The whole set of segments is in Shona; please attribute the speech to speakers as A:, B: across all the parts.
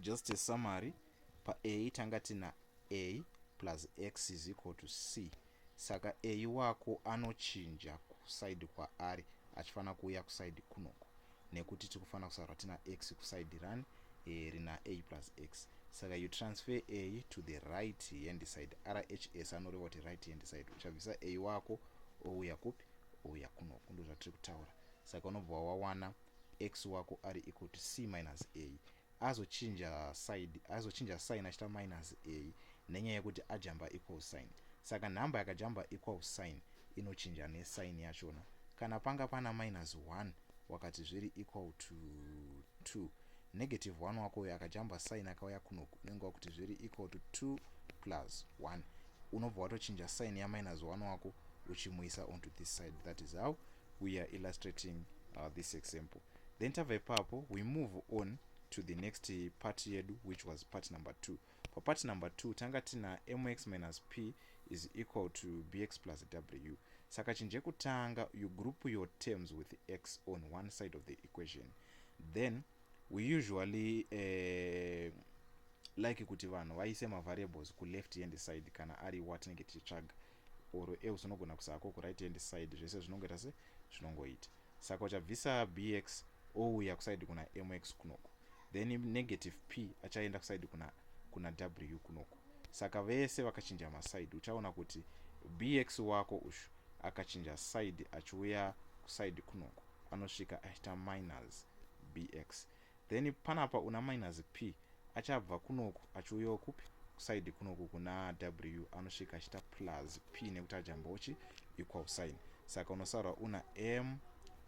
A: just a summary pa a tanga tina a plus x is equal to c saka a wako anochinja kusaidi kwaari achifanira kuuya kusaidi kunoko nekuti tiri kufanira kusarwa tina x kusaidi rani e, rina a plus x saka you transfer a to the right hand side rhs anoreva kuti right hand side uchabvisa a wako ouya kupi ouya kunoko ndozvatiri kutaura saka unobva wawana x wako ari equal to c minus a azochinja side azochinja sign achita minus a nenyaya yekuti ajamba equal sign saka nhamba yakajamba equal sign inochinja nesign yachona kana panga pana minus 1 wakati zviri equal to 2 negative 1 wako uyo akajamba sign akauya kuno unenge wakuti zviri equal to 2 plus 1 unobva watochinja sign yaminus 1 wako uchimuisa onto this side that is how we are illustrating uh, this example then tava ipapo we move on to the next part yedu which was part number two papart number two tanga tina mx minus p is equal to bx plus w saka chinje kutanga you group your terms with x on one side of the equation then we usually uh, like kuti vanhu vaise mavariables kuleft hand side kana ari watinenge tichitsvaga or a usinogona kusako ku right hand side zvese zvinongoita se zvinongoita saka uchabvisa bx ouya kuside kuna mx kunoko then negative p achaenda kuside kuna kuna w kunoko saka vese vakachinja maside uchaona kuti bx wako ushu akachinja side achiuya kuside kunoko anosvika aita minus bx then panapa una minus p achabva kunoku achiuyawo kupi kusaidi kunoku kuna w anosvika achiita plus p nekuti ajambochi equal sign saka unosaurwa una m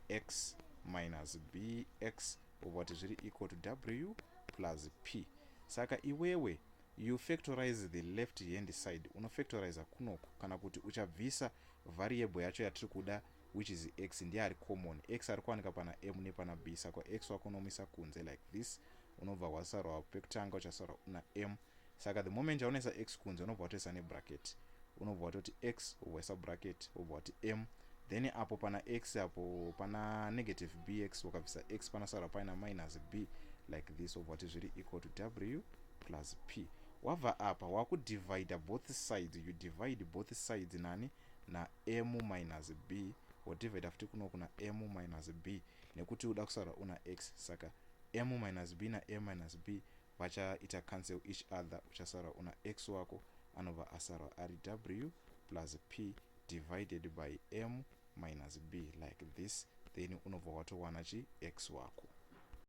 A: x minus b x obva kuti zviri equal to w plus p saka iwewe you factorize the left hand side unofactoriza kunoku kana kuti uchabvisa variable yacho yatiri kuda which is x ndiye ari common x ari kuwanika pana m nepana b saka x wako unomuisa kunze like this unobva hwasarwa pekutanga uchasarwa una m saka the moment yaunoisa x kunze unobva watoisa nebracket unobva watoti x wobva waisa bracket wobva wati m then apo pana x apo pana negative bx wakabvisa x panosarwa paina minus b like this wobva wati zviri equal to w plus p wabva apa wakudivida both sides you divide both sides nani namu minus b wodhivhaidha futi kuno kuna mu minus b nekuti uda kusara una x saka mu minus b namu minus b vachaita cancel each other uchasara una x wako anobva asara ari w plus p divided by mu minus b like this then unobva watowana chi x wako